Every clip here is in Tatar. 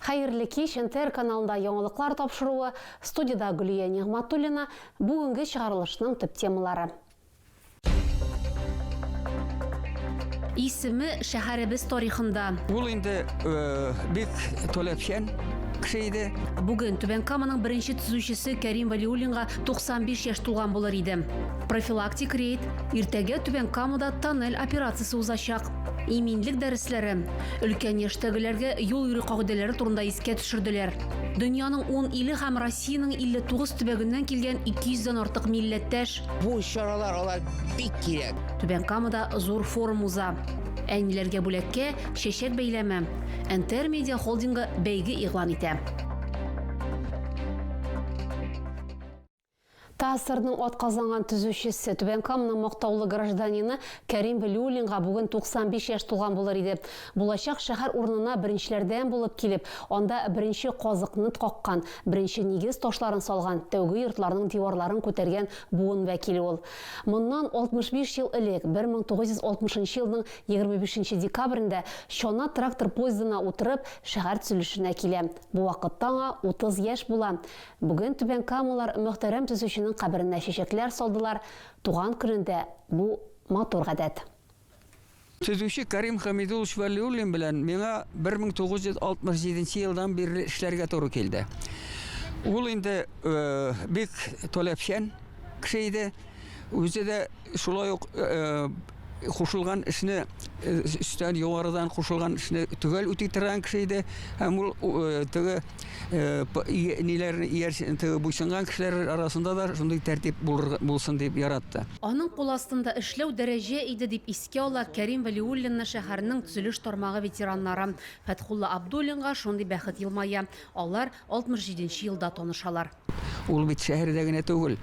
Хәерле кич, НТР каналында яңалыклар тапшыруы, студиядә Гөлия Нигъматуллина, бүгенге чыгарылышның төп темалары. Исеме шәһәребез тарихында. Ул инде бик таләпчән кеше иде. Бүген Түбән Каманың беренче төзүчесе Кәрим Вәлиуллинга 95 яшь тулган булыр иде. Профилактик рейд, иртәгә Түбән Камада тоннель операциясе узачак. Иминлек дәресләре өлкән яшьтәгеләргә юл йөрү кагыйдәләре турында искә төшерделәр. Дөньяның 10 иле һәм Россиянең 59 төбәгеннән килгән 200 дән артык милләттәш. Бу чаралар алар бик кирәк. Түбән Камада зур форум уза. Әниләргә бүләккә чәчәк бәйләме. НТР Медиа холдингы бәйге игълан итә. ТАССРның атказанган төзүчесе, Түбән Каманың мактаулы гражданины Кәрим Вәлиуллинга бүген 95 яшь тулган булыр иде. Булачак шәһәр урынына беренчеләрдән булып килеп, анда беренче казыкнт каккан, беренче нигез ташларын салган, тәүге йортларның диварларын күтәргән буын вәкиле ул. Моннан 65 ел элек, 1960 елның 25 декабрендә чана трактор поездына утырып, шәһәр төзелешенә килә. Бу вакытта аңа 30 яшь була. Бүген Түбән Камалар мөхтәрәм төзүченең каберенә чәчәкләр салдылар, туган көнендә бу матур гадәт. Төзүче Кәрим Хәмид улович Вәлиуллин белән миңа 1967 нче елдан бирле эшләргә туры килде. Ул инде бик таләпчән кеше иде, үзе дә шулай ук Кушылган эшне, өстән югарыдан кушылган эшне төгәл үти торган кеше иде. Һәм ул теге ниләр теге буйсынган кешеләр арасында да шундый тәртип булсын дип яратты. Аның кул астында эшләү дәрәҗә иде, дип искә ала Кәрим Вәлиуллинны шәһәрнең төзелеш тармагы ветераннары. Фәтхулла Абдуллинга шундый бәхет елмая, алар 67 нче елда танышалар. Ул бит шәһәрдә генә түгел,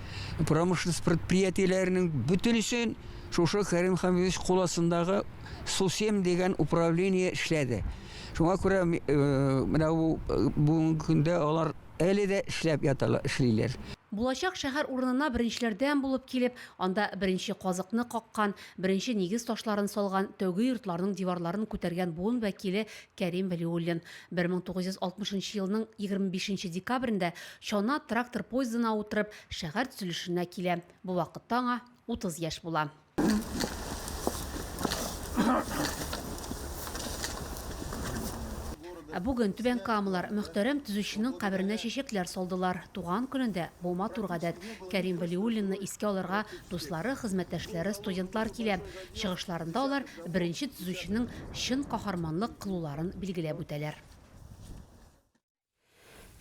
промышленность предприятиеләренең бөтенесен шушы Кәрим Хәмидович кул астындагы Сусем дигән управление эшләде. Шуңа күрә э, менә бу э, бүгенге көндә алар әле дә эшләп яталар, эшлиләр. Булачак шәһәр урынына беренчеләрдән булып килеп, анда беренче казыкны каккан, беренче нигез ташларын салган, тәүге йортларның диварларын күтәргән буын вәкиле Кәрим Вәлиуллин. 1960 нчы елның 25 нче декабрендә Чана трактор поездына утырып шәһәр төзелешенә килә. Бу вакытта аңа 30 яшь була. Ә бүген түбән камалар мөхтәрәм төзүченең каберенә чәчәкләр салдылар. Туган көнендә бу матур гадәт. Кәрим Вәлиуллинны искә алырга дуслары, хезмәттәшләре, студентлар килә. Чыгышларында алар беренче төзүченең чын каһарманлык кылуларын билгеләп үтәләр.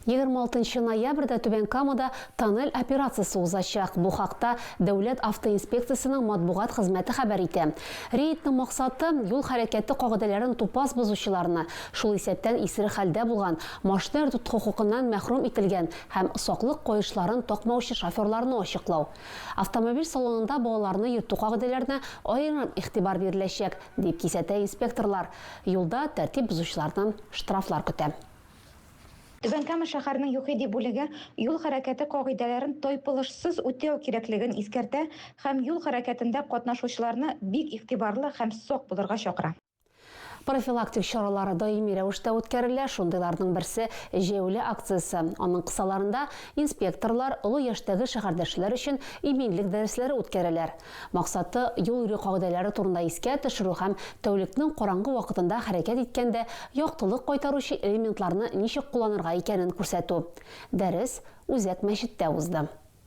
26 ноябрьдә Түбән Камада тоннель операциясе узачак. Бу хакта Дәүләт автоинспекциясенең матбугат хезмәте хәбәр итә. Рейдның максаты, юл хәрәкәте кагыйдәләрен тупас бозучыларны, шул исәптән исерек хәлдә булган, машина йөртү хокукыннан мәхрүм ителгән һәм саклык каешларын такмаучы шоферларны ачыклау. Автомобиль салонында балаларны йөртү кагыйдәләренә аерым игътибар биреләчәк, дип кисәтә инспекторлар. Юлда тәртип бозучылардан штрафлар көтә. Түбән Кама шәһәренең ЮХИДИ бүлеге юл хәрәкәте кагыйдәләрен тайпылышсыз үтәү кирәклеген искәртә һәм юл хәрәкәтендә катнашучыларны бик игътибарлы һәм сак булырга чакыра. Профилактик чаралар даими рәвештә үткәрелә, шундыйларның берсе, җәяүле акциясе. Аның кысаларында инспекторлар, олы яшьтәге шәһәрдәшләр өчен иминлек дәресләре үткәрәләр. Максаты, юл йөрү кагыйдәләре турында искә төшерү һәм тәүлекнең караңгы вакытында хәрәкәт иткәндә яктылык кайтаручы элементларны ничек кулланырга икәнен күрсәтү. Дәрес Үзәк мәчеттә узды.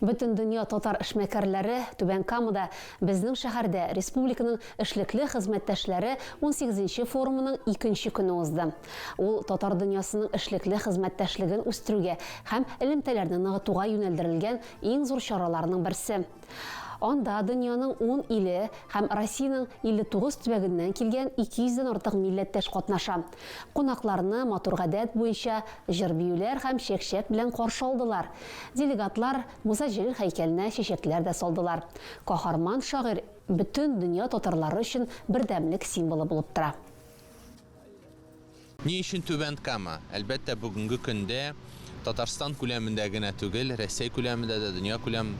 Бөтендөнья татар эшмәкәрләре Түбән Камада безнең шәһәрдә республиканың эшлекле хезмәттәшләре унсигезенче форумының икенче көне узды. Ул татар дөньясының эшлекле хезмәттәшлеген үстерүгә һәм элемтәләрне ныгытуга юнәлдерелгән иң зур чараларның берсе. Анда дөньяның ун иле һәм Россиянең 59 төбәгеннән килгән 200 дән артык милләттәш катнаша. Кунакларны матур гадәт буенча җыр-биюләр һәм чәк-чәк белән каршы алдылар. Делегатлар Муса Җәлил һәйкәленә чәчәкләр дә салдылар. Каһарман шагыйрь бөтен дөнья татарлары өчен бердәмлек символы булып тора. Ни өчен Түбән Кама? Әлбәттә, бүгенге көндә Татарстан күләмендә генә түгел, Рәсәй күләмендә дә, дөнья күләм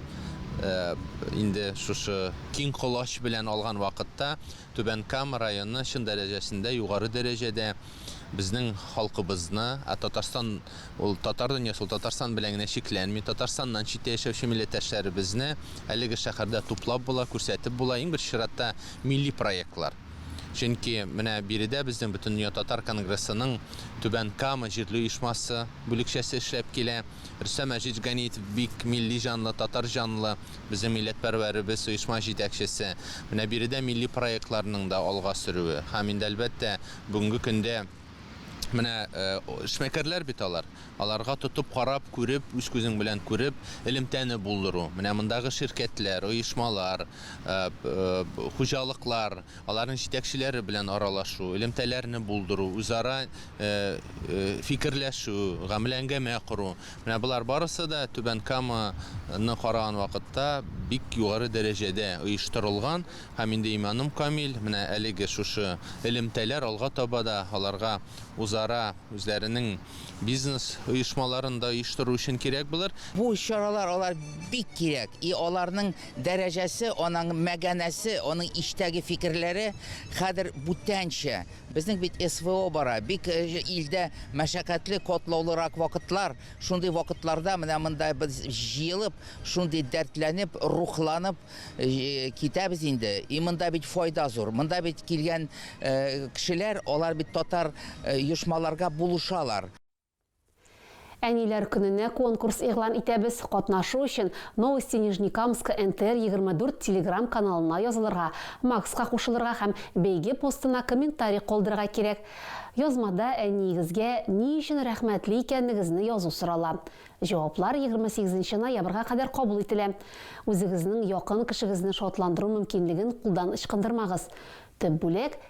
инде шушы киң колач белән алган вакытта Түбән Кама районы чын дәрәҗәсендә, югары дәрәҗәдә безнең халкыбызны, ә Татарстан ул татар дөньясы, ул Татарстан белән генә чикләнми, Татарстаннан читтә яшәүче милләттәшләребезне әлеге шәһәрдә туплап була, күрсәтеп була, иң беренче чиратта милли проектлар. Чөнки менә биредә безнең Бөтендөнья татар конгрессының Түбән Кама җирле оешмасы бүлекчәсе эшләп килә. Рөстәм Мәҗит Ганиев бик милли җанлы, татар җанлы. Безнең милләтпәрвәребез, оешма җитәкчесе, менә биредә милли проектларның да алга сөрүе һәм инде, әлбәттә, бүгенге көндә менә эшмәкәрләр бит алар, аларга тотып карап, күреп, үз күзең белән күреп, элемтәне булдыру, менә мондагы ширкәтләр, оешмалар, хуҗалыклар, аларның җитәкчеләре белән аралашу, элемтәләрне булдыру, үзара фикерләшү, гамәләңгәмә кору, Менә болар барысы да Түбән Кама ны караган вакытта бик югары дәрәҗәдә оештырылган һәм инде иманым камил, менә әлеге шушы элемтәләр алга таба да аларга узара үзләренең бизнес оешмаларын да оештыру өчен кирәк булыр. Бу чаралар алар бик кирәк и аларның дәрәҗәсе, анаң мәганәсе, аның иштәге фикерләре хәзер бүтәнчә, Безнең бит СВО бара, бик илдә мәшәкатьле, катлаулырак вакытлар. Шундый вакытларда менә монда без җыелып, шундый дәртләнеп, рухланып китәбез инде. И монда бит файда зур. Монда бит килгән кешеләр, алар бит татар оешмаларга булышалар. Әниләр көненә конкурс игълан итәбез, катнашу өчен Новости Нижнекамска НТР 24 Телеграм каналына язылырга, Макска кушылырга һәм бәйге постына комментарий калдырырга кирәк. Язмада әниегезгә ни өчен рәхмәтле икәнегезне язу сорала. Җаваплар 28 нче ноябрьга кадәр кабул ителә. Үзегезнең якын кешегезне шатландыру мөмкинлеген кулдан ычкындырмагыз. Төп бүләк,